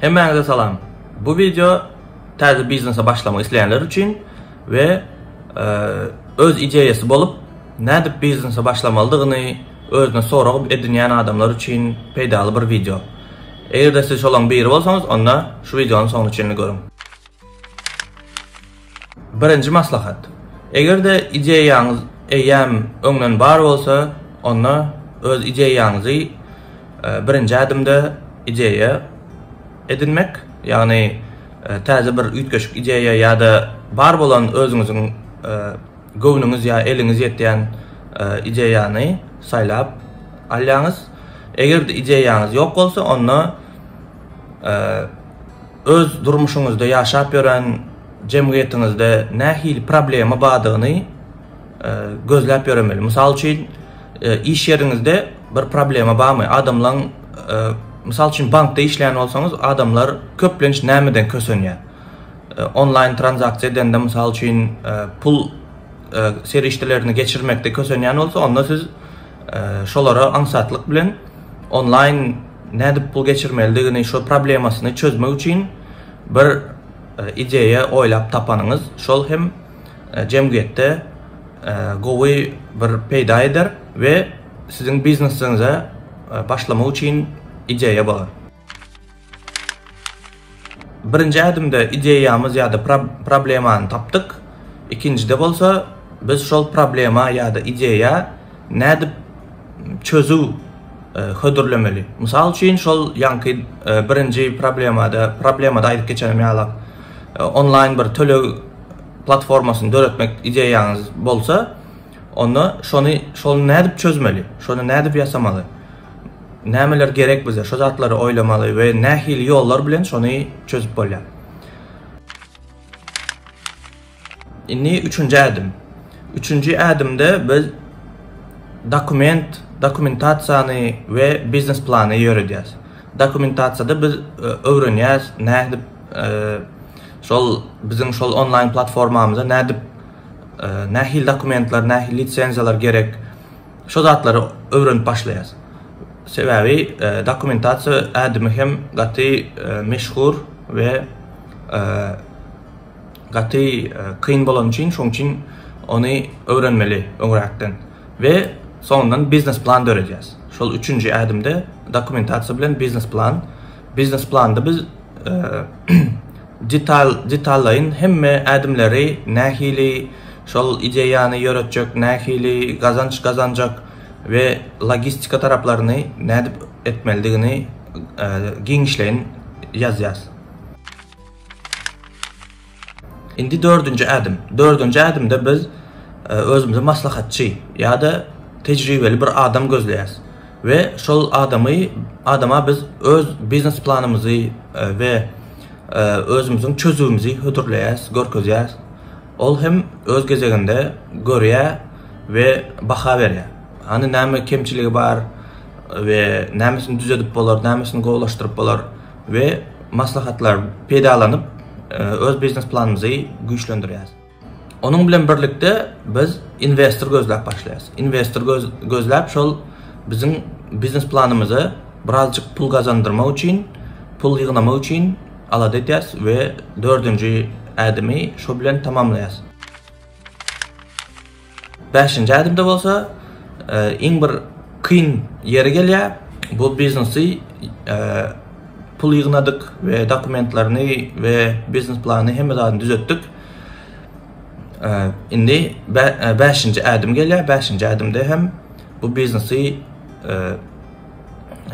Hemmäňize salam. Bu wideo täze biznese başlamak isleýänler üçin we e, öz ideýasy bolup, nädip biznese başlamalydygyny özüne sorag edinýän adamlar üçin peýdaly bir wideo. Eger-de siz şolaň biri bolsaňyz, onda şu wideonyň soňuny çenli görüň. Birinji maslahat. Eger-de ideýaňyz eýýäm öňden bar bolsa, onda öz ideýaňyzy birinji ädimde ideýa edinmek, ýagny täze bir üýtgeşik ideýa ýa-da bar bolan özüňiziň göwnüňiz ýa eliňiz ýetýän ideýany saýlap alýaňyz. Eger-de ideýaňyz ýok bolsa, onda Öz durmuşyňyzda, ýaşap ýören jemgyýetiňizde nähili problema bardygyny gözläp ýöremeli. Mysal üçin, iş ýeriňizde bir problema barmy? Adamlaň, mysal üçin, bankda işleýän bolsaňyz, adamlar köplenç nämeden kösenýär? Onlaýn tranzaksiýa edende, mysal üçin, pul serişdelerini geçirmekde kösenýän bolsa, onda siz şolara aňsatlyk bilen onlaýn Nädip pul geçirmelidigini, şo problemasyny çözmek üçin bir ideýa oýlap tapanyňyz, şol hem jemgyýetde gowy bir peýda eder we siziň biznesiňize başlamak üçin ideýa bolar. Birinji ädimde ideýamyz ýa-da problemany tapdyk, ikinjide bolsa biz şol problema ýa-da ideýa nädip çözüw hödürlemeli. Mysal üçin, şol ýaňky birinji problemada, problemada aýdyp geçenim ýalak, onlaýn bir töleg platformasyny döretmek ideýaňyz bolsa, onda şony, şony nädip çözmeli, şony nädip ýasamaly? Nämeler gerek bize? Şu zatlary oýlamaly we nähili ýollar bilen şony çözüp bolýar? Indi üçünji ädim. Üçünji ädimde biz dokument, dokumentasiýany we biznes plany ýöredýäris. Dokumentasiýada biz e, öwrenýäris nädip e, şol biziň şol onlaýn platformamyza nädip e, nähili dokumentler, nähili lisenziýalar gerek? Şo zatlary öwrenip başlaýas. Sebäbi dokumentasiýa ädimi hem gaty meşhur we gaty kyn bolany üçin şoň üçin ony öwrenmeli öňräkden we soňundan biznes plan döredýäs. Şol üçünji ädimde dokumentasiýa bilen biznes plan Biznes planda biz detal detallaýyn hemme ädimleri nähili şol ideýany ýöretjek, nähili gazanç gazanjak we logistika taraplaryny nädip etmelidigini giňişleýin ýazýarys. Indi dördünji ädim. Dördünji ädimde biz özümize maslahatçy ýa-da tejribeli bir adam gözleýäs we şol adamy adama biz öz biznes planymyzy we özümiziň çözüwimizi hödürleýäs, görkezýäs. Ol hem öz gezeginde görýär we baha berýär. Hany näme kemçiligi bar we nämesini düzedip bolar, nämesini gowulaşdyryp bolar. we maslahatlar peýdalanyp, öz biznes planymyzy güýçlendirýäris. Onuň bilen birlikde biz inwestor gözläp başlaýarys. Inwestor gözläp şol biziň biznes planymyza birazjyk pul gazandyrmak üçin, pul ýygnamak üçin alada edýäris we dördünji ädimi şu bilen tamamlaýarys. Bäşinji ädimde bolsa, iň bir kyn ýeri gelýär, bu biznesi pul ýygnadyk we dokumentlerini we biznes planyny hemme zadyny düzetdik. Indi bäşinji ädim gelýär, bäşinji ädimde hem bu biznesi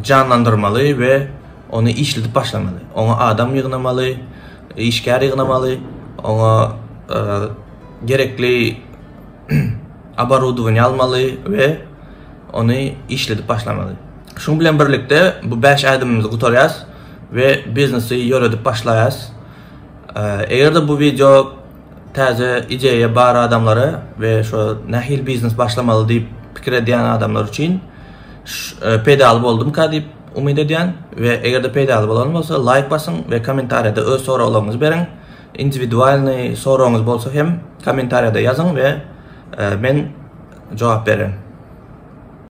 janlandyrmaly we ony işledip başlamaly. Oňa adam ýygnamaly, işgär ýygnamaly, oňa gerekli oborudowaniýa almaly we ony işledip başlamaly. Şuň bilen birlikde bu bäş ädimimizi gutarýas we biznesi ýöredip başlaýas. Eger-de bu wideo täze ideýa bar adamlara we şo nähili biznes başlamaly diýip pikir edýän adamlar üçin peýdaly boldumyka diýip umyt edýän we eger-de peýdaly bolan bolsa laýk basyň we kommentariýada öz soraglaryňyzy beriň. Indiwidualnyý soragyňyz bolsa hem kommentariýada ýazyň we men jogap bererin.